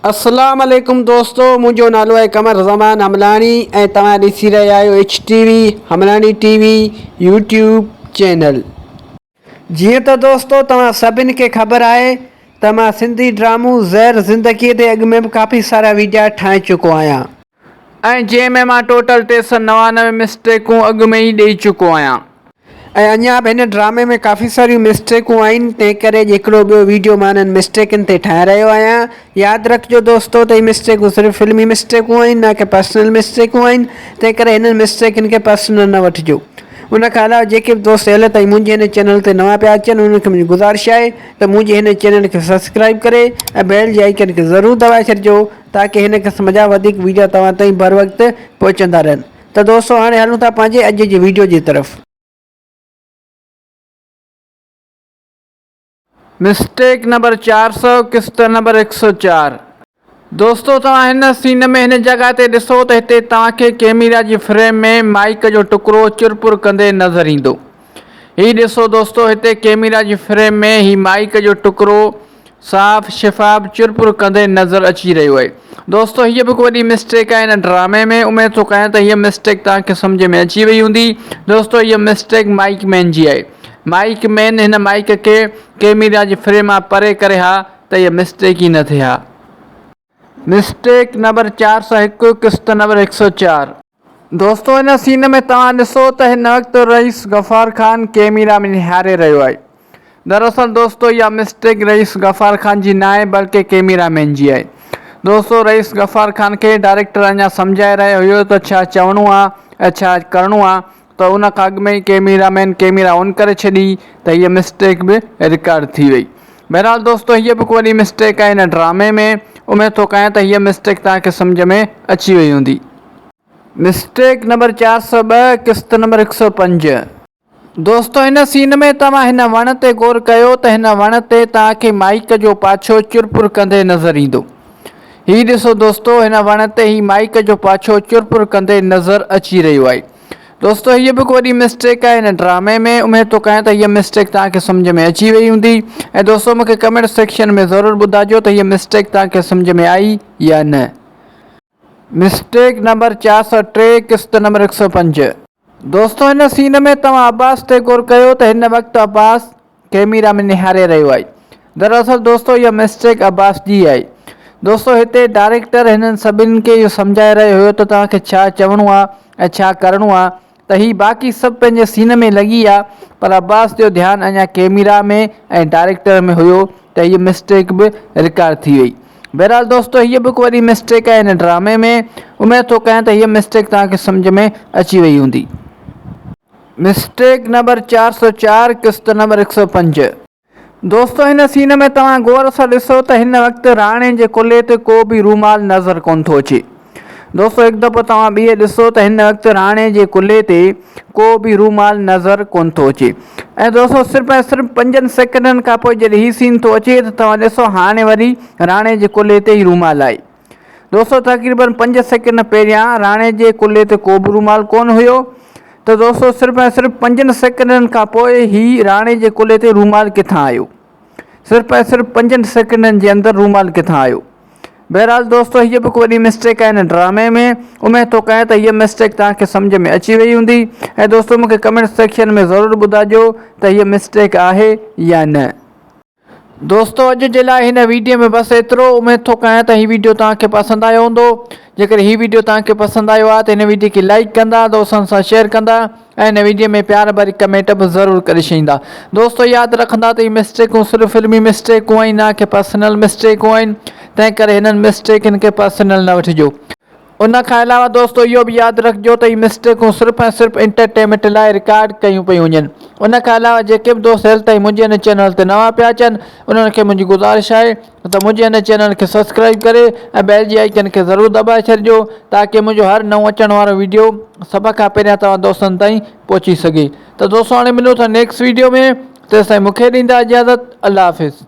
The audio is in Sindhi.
اسلام عليڪم دوستو منهنجو نالو آهي قمر زمان حملاڻي ۽ توهان ڏسي رهيا آهيو H T V Hamlani T V YouTube channel جيئن ته دوستو توهان سڀني کي خبر آهي ته مان سنڌي ڊرامو زهر زندگي تي اڳ ۾ به ڪافي سارا ويڊيا ٺاهي چڪو آهيان ۽ جنهن ۾ مان ٽوٽل ٽي سئو نوانوي مسٽيڪون اڳ ۾ ئي ڏئي چڪو آهيان. ۽ اڃا به هن ڊرامي ۾ ڪافي ساريون مسٽيڪون آهن تنهن ڪري اڄ هڪڙو ٻيو ويڊيو مان انهن مسٽيڪن تي ٺاهي رهيو آهيان. ياد رکجو دوستو ته هي مسٽيڪون صرف فلمي مسٽيڪون آهن نه ڪي پرسنل مسٽيڪون آهن تنهن ڪري هنن مسٽيڪن کي پرسنل نه وٺجو. ان کان علاوه جيڪي به دوست هيل تائين منهنجي هن چينل تي نوان پيا اچن انهن کي منهنجي گذارش آهي ته منهنجي هن چينل کي سبسڪرائيب ڪري ۽ بيل جي آئيڪن کي ضرور دٻائي ڇڏجو تاڪه هن قسم جا وڌيڪ وڊيو توهان تائين بر وقت پهچندا رهن ته دوستو هاڻي هلون ٿا پنهنجي اڄ جي وڊيو جي طرف. مسٽيڪ نمبر چار سؤ قسط نمبر هڪ سؤ چار دوستو توهان هن سين ۾ هن جڳهه تي ڏسو ته هتي توهان کي ڪيميرا جي فريم ۾ مائيڪ جو ٽڪرو چرپر ڪندي نظر ايندو هي ڏسو دوستو هتي ڪيميرا جي فريم ۾ هي مائيڪ جو ٽڪرو صاف شفاف چرپر ڪندي نظر اچي رهيو آهي دوستو هيء به هڪ وڏي مسٽيڪ آهي هن ڊرامي ۾ اميد ٿو ڪيان ته هيء مسٽيڪ توهان کي سمجهه ۾ اچي وئي هوندي دوستو هيء مسٽيڪ مائيڪ مين جي آهي مائيڪ مين هن مائيڪ کي ڪيميرا جي فريم مان پري ڪري ها ته هيء مسٽيڪ ئي نه ٿئي ها. مسٽيڪ نمبر چار سؤ هڪ قسط نمبر هڪ سؤ چار. دوستو هن سين ۾ توهان ڏسو ته هن وقت رئيس غفار خان ڪيميرا ۾ نهاري رهيو آهي دراصل دوستو اها مسٽيڪ رئيس غفار خان جي ناهي بلڪه ڪيميرا مين جي آهي دوستو رئيس غفار خان کي ڊائريڪٽر اڃا سمجهائي رهيو هيو ته ڇا چوڻو آهي ۽ ڇا ڪرڻو آهي ته ان کان اڳ ۾ ئي ڪيميرا مين ڪيميرا آن ڪري ڇڏي ته هيء مسٽيڪ به رڪارڊ ٿي وئي. بهرحال دوستو هيء به هڪ وڏي مسٽيڪ آهي هن ڊرامي ۾. اميد ٿو ڪيان ته هيء مسٽيڪ توهان کي سمجهه ۾ اچي وئي هوندي. مسٽيڪ نمبر چار سؤ ٻه قسط نمبر هڪ سؤ پنج. دوستو هن سين ۾ توهان هن وڻ تي غور ڪيو ته هن وڻ تي توهان کي مائيڪ جو پاڇو چرپر ڪندي نظر ايندو. هي ڏسو دوستو هن وڻ تي هي مائيڪ جو پاڇو چرپر ڪندي نظر اچي رهيو آهي. دوستو هيء به هڪ وڏي مسٽيڪ آهي هن ڊرامي ۾ اميد ٿو ڪيان ته هيء مسٽيڪ توهان کي سمجهه ۾ اچي وئي هوندي ۽ دوستو مون کي ڪمينٽ سيڪشن ۾ ضرور ٻڌاجو ته هيء مسٽيڪ توهان کي سمجهه ۾ آئي يا نه. مسٽيڪ نمبر چار سؤ ٽي قسط نمبر هڪ سؤ پنج. دوستو هن سين ۾ توهان عباس تي غور ڪيو ته هن وقت عباس ڪئميرا ۾ نهاري رهيو آهي دراصل دوستو اها مسٽيڪ عباس جي آهي دوستو هتي ڊائريڪٽر هنن سڀني کي اهو سمجهائي رهيو هيو ته توهان کي ڇا چوڻو آهي ۽ ڇا ڪرڻو آهي ته هي باقي سڀ پنهنجي سين ۾ لڳي آهي پر عباس جو ڌيان اڃا ڪئميرا ۾ ۽ ڊائريڪٽر ۾ هيو ته هيء مسٽيڪ به رڪارڊ ٿي وئي بهرحال دوستو هيء به هڪ وڏي مسٽيڪ آهي هن ڊرامي ۾ اميد ٿو ڪيان ته هيء مسٽيڪ توهان کي سمجهه ۾ اچي وئي هوندي. مسٽيڪ نمبر چار سؤ چار قسط نمبر هڪ سؤ پنج دوستو هن سين ۾ توهان غور سان ڏسو ته هن وقت راڻي جي ڪلهي تي ڪو به رومال نظر ڪونه ٿو اچي دوستو هڪ دفعو توهان ٻيهر ڏسو ته هن وقت راڻي جي ڪلهي تي ڪو به رومال نظر ڪونه ٿو اچي ۽ دوستو صرف ۽ صرف پنجن سيڪنڊن کان پوء جڏهن هي سين ٿو اچي ته توهان ڏسو هاڻي وري راڻي جي ڪلهي تي هي رومال آهي دوستو تقريبن پنج سيڪنڊ پهريان راڻي جي ڪلهي تي ڪوبه رومال ڪونه هيو ته دوستو صرف ۽ صرف پنجن سيڪنڊن کان پوء هي راڻي جي ڪلهي تي رومال ڪٿان آيو صرف ۽ صرف پنجن سيڪنڊن جي اندر رومال ڪٿان آيو بهرحال دوستو هيء به وڏي مسٽيڪ آهي هن ڊرامي ۾ اميد ٿو ڪيان ته هيء مسٽيڪ توهان کي سمجهه ۾ اچي وئي هوندي ۽ دوستو مون کي ڪمينٽ سيڪشن ۾ ضرور ٻڌائجو ته هيء مسٽيڪ آهي يا نه دوستو اڄ جي لاء هن ويڊيو ۾ بس ايترو اميد ٿو ڪيان ته هي ويڊيو توهان کي پسند آيو هوندو جيڪڏهن هي ويڊيو توهان کي پسند آيو آهي ته هن ويڊيو کي لائيڪ ڪندا دوستن سان شيئر ڪندا ۽ هن ويڊيو ۾ پيار ڀري ڪمينٽ به ضرور ڪري ڇڏيندا دوستو ياد رکندا ته هي مسٽيڪون صرف فلمي مسٽيڪون آهن نه ڪي پرسنل مسٽيڪون آهن تنهن ڪري هنن مسٽيڪن کي پرسنل نه وٺجو ان کان علاوه دوستو اهو به ياد رکجو ته هي مسٽيڪون صرف ۽ صرف انٽرٽيمنٽ لاء رڪارڊ ڪيون پيون وڃن ان کان علاوه جيڪي به دوست هيل تائين منهنجي هن چينل تي نوان پيا اچن انهن کي منهنجي گذارش آهي ته منهنجي هن چينل کي سبسڪرائب ڪري ۽ بيل جي آئيڪن کي ضرور دٻائي ڇڏجو تاڪه منهنجو هر نئون اچڻ وارو ويڊيو سڀ کان پهريان توهان دوستن تائين پهچي سگهي ته دوستو هاڻي ملون ٿا نيڪسٽ ويڊيو ۾ تيستائين مونکي ڏيندا اجازت الله حافظ.